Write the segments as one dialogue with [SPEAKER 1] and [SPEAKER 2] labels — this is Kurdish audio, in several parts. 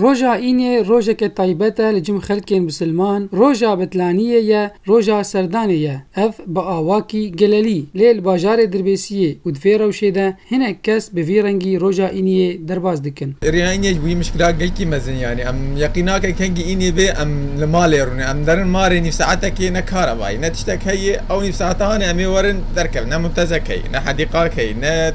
[SPEAKER 1] Roja Înê rojeke taybet e li cim xelkên bisilman, roja betlaniyê ye, roja serdanê ye. Ev bi awakî gelelî, lê li bajarê Dirbêsiyê û di vê rewşê de hinek kes bi vî rengî roja Îniyê derbas dikin. Rêya Înê ji bo wî mişkila gelkî mezin yanî em yeqîn nakin kengî Înê bê em li malê rûnin. Em derin malê nîv saetekê ne karebayî ne tiştek heye. Ew nîv saetan e em ê werin derkevin ne mûntezekeyê ne hedîqakeyê ne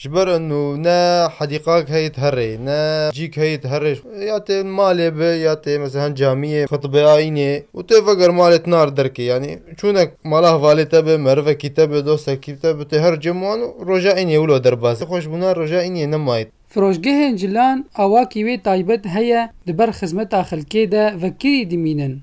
[SPEAKER 1] Ji ber enû ne hedîqak heyît herê, ne cîk heyît herê. Ya tê malê bi, ya tê meselan camiyê, xitibê ayînê û tê veger malê tinar derkê. Yanî çûnek mala hevalê te bi, merivekî te bi, dostekî te bi, tu her cem wan û roja înê wilo derbas dikî. Xweş bûna roja înê nemayî. Firoşgehên cilan awakî wê taybet heye di ber xizmeta xelkê de vekirî dimînin.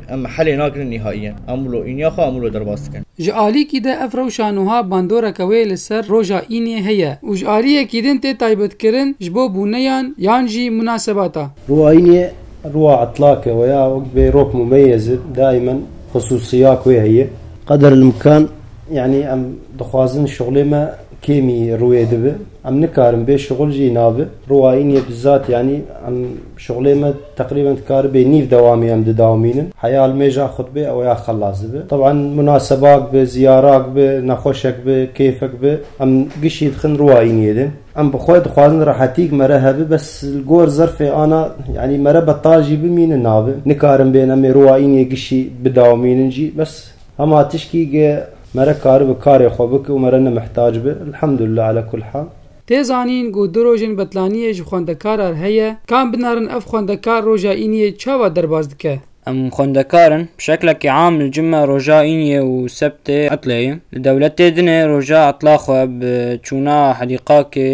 [SPEAKER 1] Em helê nakin nîhaiyen. Em wilo îniya xwe em wilo derbas dikin. Ji alîkî de ev rewşa nuha bandoreke wê li ser roja îniyê heye û ji aliyekî din tê taybetkirin ji bo bûneyan yan jî munasebata. Roja îniyê roja etlak e weya wek bê rok mumeyez e daimen xususiyak wê heye. Qeder el imkan yanî em dixwazin şixulê me kêmî rûyê dibe. Em nikarin bê şixul jî nabe. Roja îniyê bizat yanî em şixulê me. Teqrîben dikaribê nîv dewamê em didawmînin. Heya almêja xwe dibe ew ya xelas dibe. Teb'an munasebak bi, ziyarak bi, nexweşek bi, kêfek bi em gişî dixin ruwa îniyê de. Em bi xwe dixwazin rehetîk me re hebe bes li gor zerfê ana yanî me re betal jî bimîne nabe. Nikarin bên em ê ruwa îniyê gişî bidawmînin jî bes hema tişkî ge me re karibe karê xwe bike û me re nemihtac be. Elhamdulillah ala kul hal. Tê zanîn ku du rojên betlaniyê ji xwendekarar heye, kam binarin ev xwendekar roja îniyê çawa derbas dike? Em xwendekar in, bi şeklekî am li cime roja îniyê û sebtê etlê ye. Li dewletê din ê roja etla xwe bi çûna hedîqakê,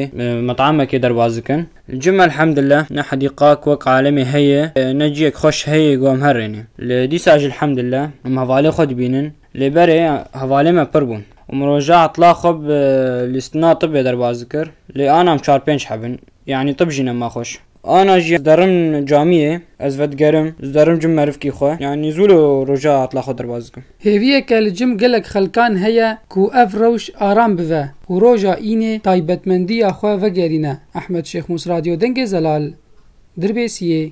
[SPEAKER 1] met'emekê derbas dikin. Li cime elhemdillah ne hedîqak wek alemê heye, ne ciyek xweş heye ku em herêne. Li dîsa jî elhemdillah em hevalê xwe dibînin. Lê berê hevalê me pir bûn û min roja etla xwe bi lîstina tibê derbas dikir. Lê anam çar pênc heb in. Yanî tib jî ne ma xweş. Ana jî zderim camiyê, ez vedigerim, zderim cim merivkî xwe. Yanî zû li roja etla xwe derbas dikim. Hêviyeke li cim gelek xelkan heye ku ev rewş aram bive û roja înê taybetmendiya xwe vegerîne, Ehmed Şêxmûs Radyo Dengê Zelal, Dirbêsiyê,